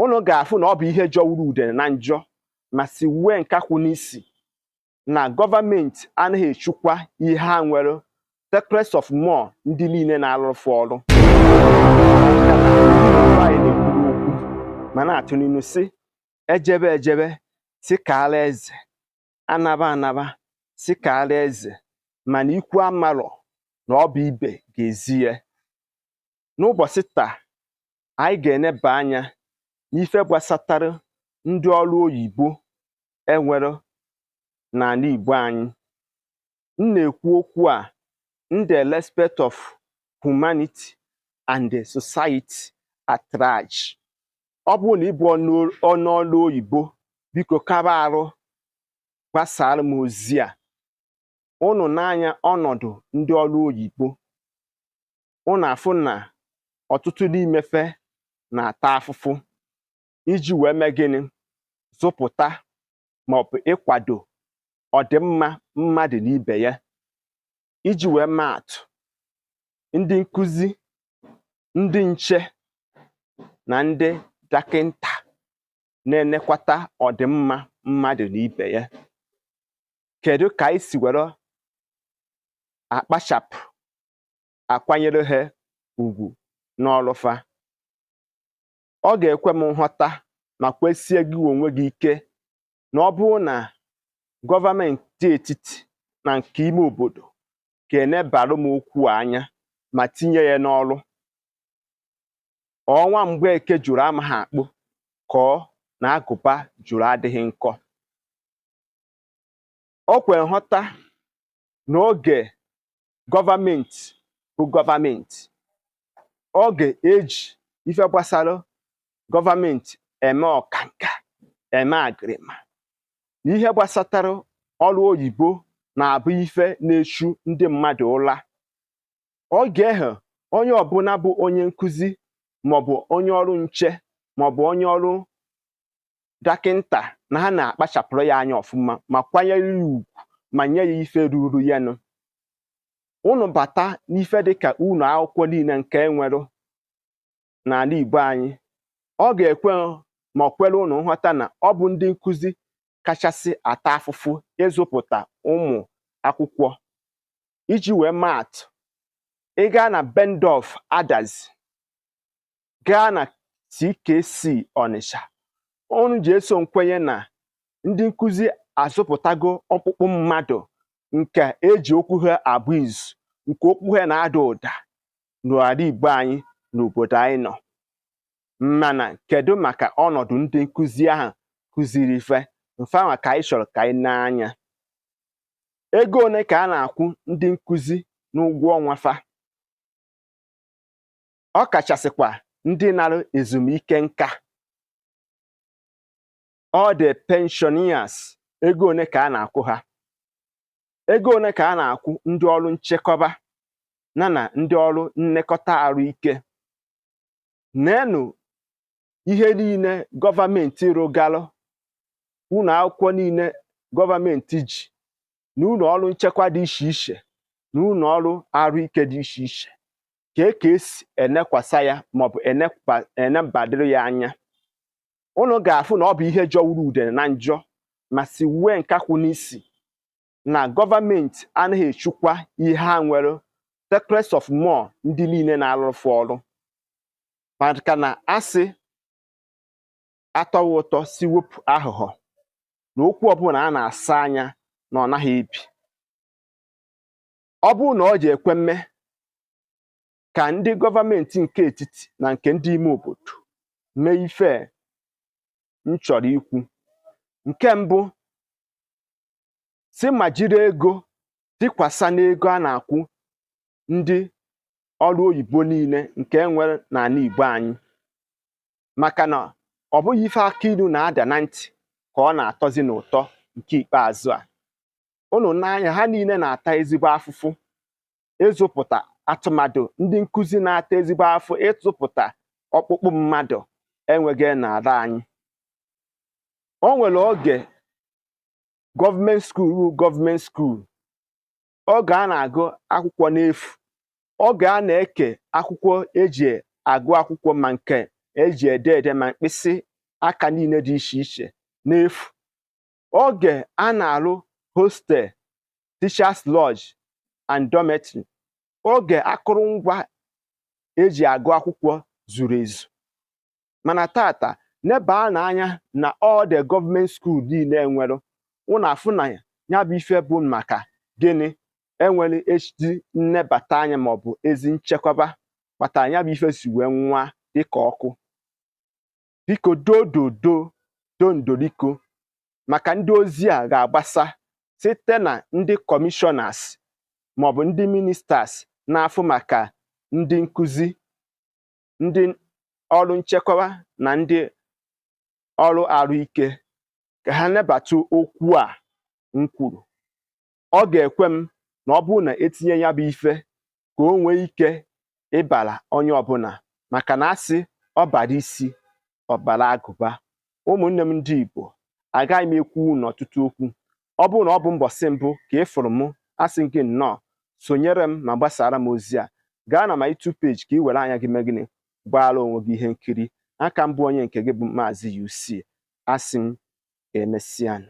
ụnụ ga-afụ na ọ bụ ihe jọwuru udene na njọ ma siwue nkakwụ n'isi na gọọmenti anaghị echukwa ihe ha nwere secrets of more ndị niile na-alụfụ ọrụ Igbo anyị na-ekwu okwu ma na-atụ n'inu sị ejebe ejebe sị kaala eze anaba anaba sị kaala eze mana ikwu amarọ na ọ bụ ibe ga-ezi ya n'ụbọsị taa anyị ga-eneba anya n'ife gbasatara ndị ọrụ oyibo enwere n'ala Igbo anyị m na-ekwu okwu a in the respect of humanity and the society at large ọ bụrụ na ị bụ onye ọrụ oyibo biko kaba arụ gbasara m ozi a ụnụ nee anya ọnọdụ ndị ọrụ oyibo ụnụ afụ na ọtụtụ n'ime fa na-ata afụfụ iji wee mee gịnị zụpụta maọbụ ịkwado ọdịmma mmadụ na ibe ya iji wee maa atụ ndị nkụzi ndị nche na ndị dọkịnta na-enekwata ọdịmma mmadụ na ibe ya kedu ka anyị si were akpachapụ akwanyere ha ugwu n'ọlụ fa ọ ga-ekwe m nghọta makwa sie gị onwe gị ike na ọ bụrụ na gọọmenti etiti na nke ime obodo ga-enebara m okwu a anya ma tinye ya n'ọlụ ọ nwa Mgbeke jụrụ amaha akpụ ka ọ na agụba jụrụ adịghị nkọ o kwere nghọta na oge gọọmenti bụ gọọmenti oge eji ife gbasara gọọmenti eme ọkanka eme agịrịma na ihe gbasatara ọrụ oyibo na-abụ ife na-echu ndị mmadụ ụla oge ahụ onye ọbụla bụ onye nkụzi maọbụ onye ọrụ nche maọbụ onye ọrụ dọkịnta na ha na-akpachapụrụ ya anya ọfụma ma kwanyere ya ugwu ma nye ya ife ruru ya nụ unu bata n'ife dịka ụnọ akwụkwọ niile nke enwere n'ala Igbo anyị ọ ga-ekwe ma ọ kwere unu nghọta na ọ bụ ndị nkụzi kachasị ata afụfụ ịzụpụta ụmụ akwụkwọ iji wee maatụ ị gaa na Bubendorff Adazi gaa na CKC Ọnịsha ụnụ ji eso m kwenye na ndị nkụzi azụpụtago ọkpụkpụ mmadụ nke eji okwu ha agba izu nke okwu ha na-ada ụda n'ala Igbo anyị n'obodo anyị nọ mana kedu maka ọnọdụ ndị nkụzi ahụ kụziri ife mfanwa ka anyị chọrọ ka anyị nee anya ego ole ka a na-akwụ ndị nkụzi n'ụgwọ ọnwa fa ọ kachasịkwa ndị nara ezumike nka all the pensioners ego one ka a na-akwụ ha ego one ka a na-akwụ ndị ọrụ nchekwaba na na ndị ọrụ nlekọta arụ ike neenụ ihe niile gọọmenti rụgalụ ụlọ akwụkwọ niile gọọmenti ji na ụlọ ọrụ nchekwa dị iche iche na ụlọ ọrụ arụ ike dị iche iche kee ka esi enekwasa ya maọbụ enebadịrị ya anya unu ga-afụ na ọ bụ ihe jọwuru udene na njọ ma siwue nkakwụ n'isi na gọọmenti anaghị echekwa ihe ha nwere talk less of more ndị niile na-arụrụ fa ọrụ maka na a sị atọwa ụtọ si wepụ aghụghọ na okwu ọbụla a na-asọ anya na ọ naghị ebi ọ bụrụ na ọ ji ekwe mme ka ndị gọọmenti nke etiti na nke ndị ime obodo mee ife m chọrọ ikwu nke mbụ si ma jiri ego tikwasa n'ego a na-akwụ ndị ọrụ oyibo niile nke e nwere n'ala Igbo anyị maka na ọ bụghị ife akụ ilu na-ada na ntị ka ọ na-atọzi n'ụtọ nke ikpeazụ a ụnụ nee anya ha niile na-ata ezigbo afụfụ ịzụpụta atụ mmadụ ndị nkụzi na-ata ezigbo afụfụ ịzụpụta ọkpụkpụ mmadụ enwega n'ala anyị o nwere oge government school government school oge a na-agụ akwụkwọ n'efu oge a na-eke akwụkwọ eji agụ akwụkwọ ma nke eji ede ede ma mkpịsị aka niile dị iche iche n'efu oge a na-arụ hostel teachers lodge and dormitory oge akụrụngwa eji agụ akwụkwọ zuru ezu mana taata nebaanụ anya na all the government school niile enwere ụnụ afụ na ya bụ ife bụ maka gịnị enwerọ ezi nnebata anya maọbụ ezi nchekwaba kpatara ya bụ ife si wee nwụa dịka ọkụ biko dododo dondoriko maka ndị ozi a ga-agbasa site na ndị kọmishọnas maọbụ ndị ministas na-afụ maka ndị nkuzi ndị ọrụ nchekwa na ndị ọrụ arụike ka ha nebata okwu a m kwuru ọ ga-ekwe m na ọ bụrụ na e tinye ya bụ ife ka o nwee ike ịbara onye ọbụla maka na a sị ọ bara isi ọ bara agụba ụmụnne m ndị Igbo agaghị m ekwu unu ọtụtụ okwu ọ bụrụ na ọ bụ mbọsị mbụ ka ị fụrụ m asị gị nnọọ sonyere m ma gbasara m ozi a gaa na my YouTube page ka ị were anya gị mee gịnị gbaara onwe gị ihe nkiri a ka m bụ onye nke gị bụ maazị UC asị m ka emesianụ